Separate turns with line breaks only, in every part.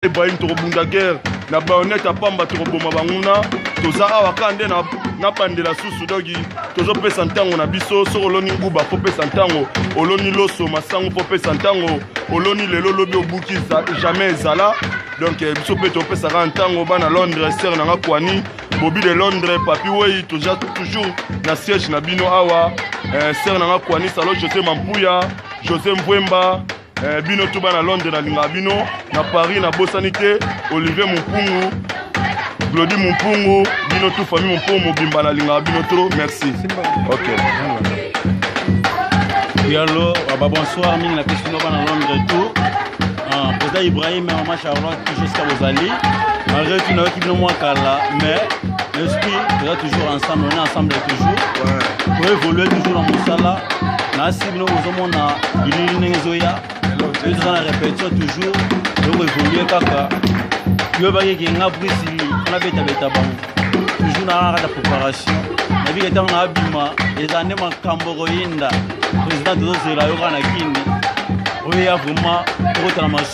Ibrahim tokobunda guerre na bayonet ya pamba tokoboma banguna toza awa kaka nde na bandela susu donki tozopesa ntango na biso soki oloni nguba kopesa ntango oloni loso masango kopesa ntango oloni lelo lobi obuki jamais ezala donk eh, biso mpe topesaka ntango bana londres ser na nga kwani bobi de londres papi wei toza toujours na siège na bino awa eh, ser na nga kwani salo josé mampuya josé mvwemba Eh, bino tout bana Londres na linga bino na Paris na bosani te Olivier Mumpungu Glody Mumpungu bino tout famille Mumpungu mobimba na linga bino trop merci ok
Yalo, ah bah bonsoir, ming la question de bana Londres et tout. Ah, Président Ibrahim et maman Charlotte, tout jusqu'à Bozali. Malgré tout, nous avons quitté le mois Kala, mais L'esprit toza toujours ensemble, on est ensemble toujours. Ouais. To évoluer toujours na mosala. Na si bino bozomona bilili ndenge ezoya. Yo toza na répétition toujours. Toko évoluer kaka. Yo bakeke nga brisi wana betabeta bango. Toujours na kaka préparation. Na bika ntango na abima eza nde makambo koyinda. Président tozozela yo kaka na kini. Oyo ya vraiment tokotala masu.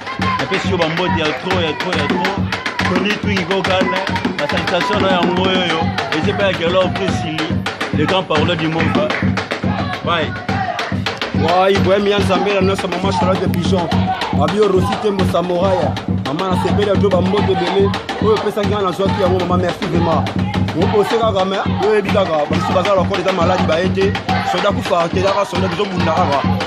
napesi yo bambote ya tro ya tro ya tro toni twingi kokana basakitasio na yango oyo eza epai ya kelor prisili le grand parole du moka bai
wai boyemi ya nzambe na nyonso mama charlotte pigeon babio rosi tembo samoraya mama nasepeli ya byo bambote ebele oyo opesaki ngai nazwaki yango mama merci vraiment opose kaka me oyebi kaka bamisu baza lokola eza maladi baye te soda kufa te kaka soda tozobunda kaka